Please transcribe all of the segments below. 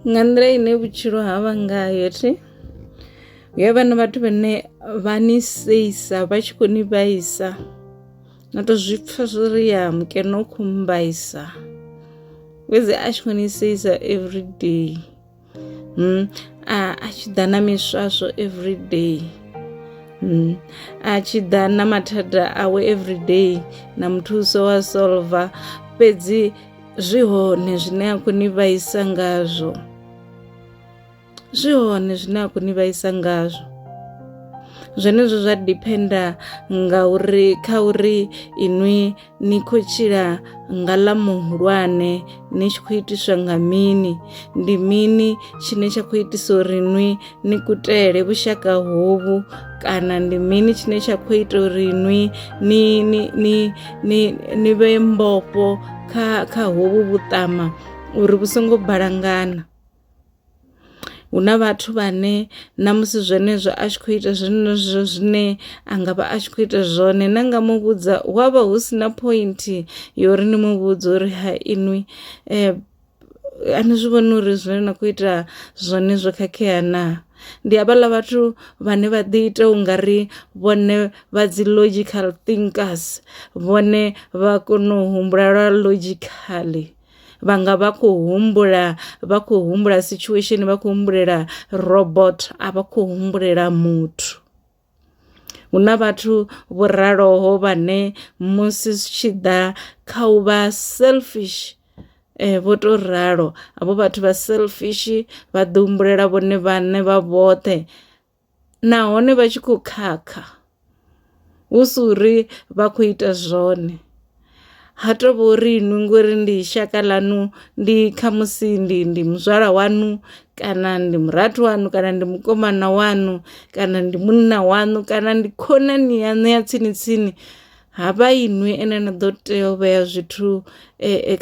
nga nḓila ine vhutshilo ha vha ngayo thi yo vha na vhathu vhane vha ni seisa vha tshi khou ni vhaisa na to zwi pfha zwo ri ya mukene u khou mbaisa fhedzi a tshi khou ni seisa everyday hmm. a tshi ḓa na miswaswo everyday hmm. a tshi ḓa na mathada awe everyday na muthuso wa solver fhedzi zwi hone zwine a khou ni vhaisa ngazwo zwi hone zwine a khou ni vhaisa ngazwo zwenezwo zwa diphenda nga uri kha uri inwi ni khou tshila nga ḽa muhulwane ni tshi khou itiswa nga mini ndi mini tshine tsha khou itisa uri nwi ni kutele vhushaka hovhu kana ndi mini tshine tsha khou ita uri nwi ni ni ni ni ni vhe mbofho kha kha hovhu vhuṱama uri vhu songo balangana hu na vhathu vhane na musi zwenezwo a tshi khou ita zwenezwo zwine a nga vha a tshi khou ita zwone na nga mu vhudza hu avha hu si na point yori ni mu vhudza uri ha inwi eh, a ni zwi vhoni uri zwine na khou ita zwone zwo khakhea na ndi havhaḽa vhathu vhane vha ḓi ita u nga ri vhone vha dzi logical thinkers vhone vha kona u humbula lwa logicaḽi vha nga vha khou humbula vha khou humbula situation vha khou humbulela robort a vha khou humbulela muthu. Hu na vhathu vho raloho vhane musi zwi tshi ḓa kha u vha selfish vho to ralo havho vhathu vha selfish vha ḓi humbulela vhone vhaṋe vha vhoṱhe nahone vha tshi kho khakha hu si uri vha kho ita zwone. ha to vha uri inwi ngori ndi shaka ḽanu ndi kha musi ndi ndi muzwala wanu kana ndi murathu wanu kana ndi mukomana wanu kana ndi munna wanu kana ndi khonani yaṋu ya tsini tsini ha vha inwi ane na ḓo tea u vhea zwithu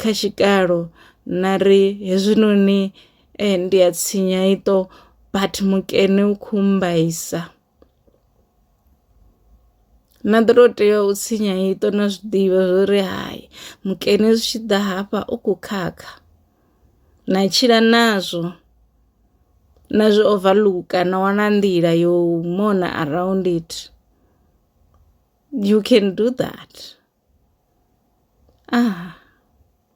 kha tshikalo na ri hezwinoni ndi a tsinya iṱo but mukene u khou mmbaisa. na ḓo tou tea u tshinya iṱo na zwi ḓivha zwo ri hai mukene zwi tshi ḓa hafha u khou khakha na tshila nazwo na zwi overlooker na wana nḓila yo mona around it you can do that ah.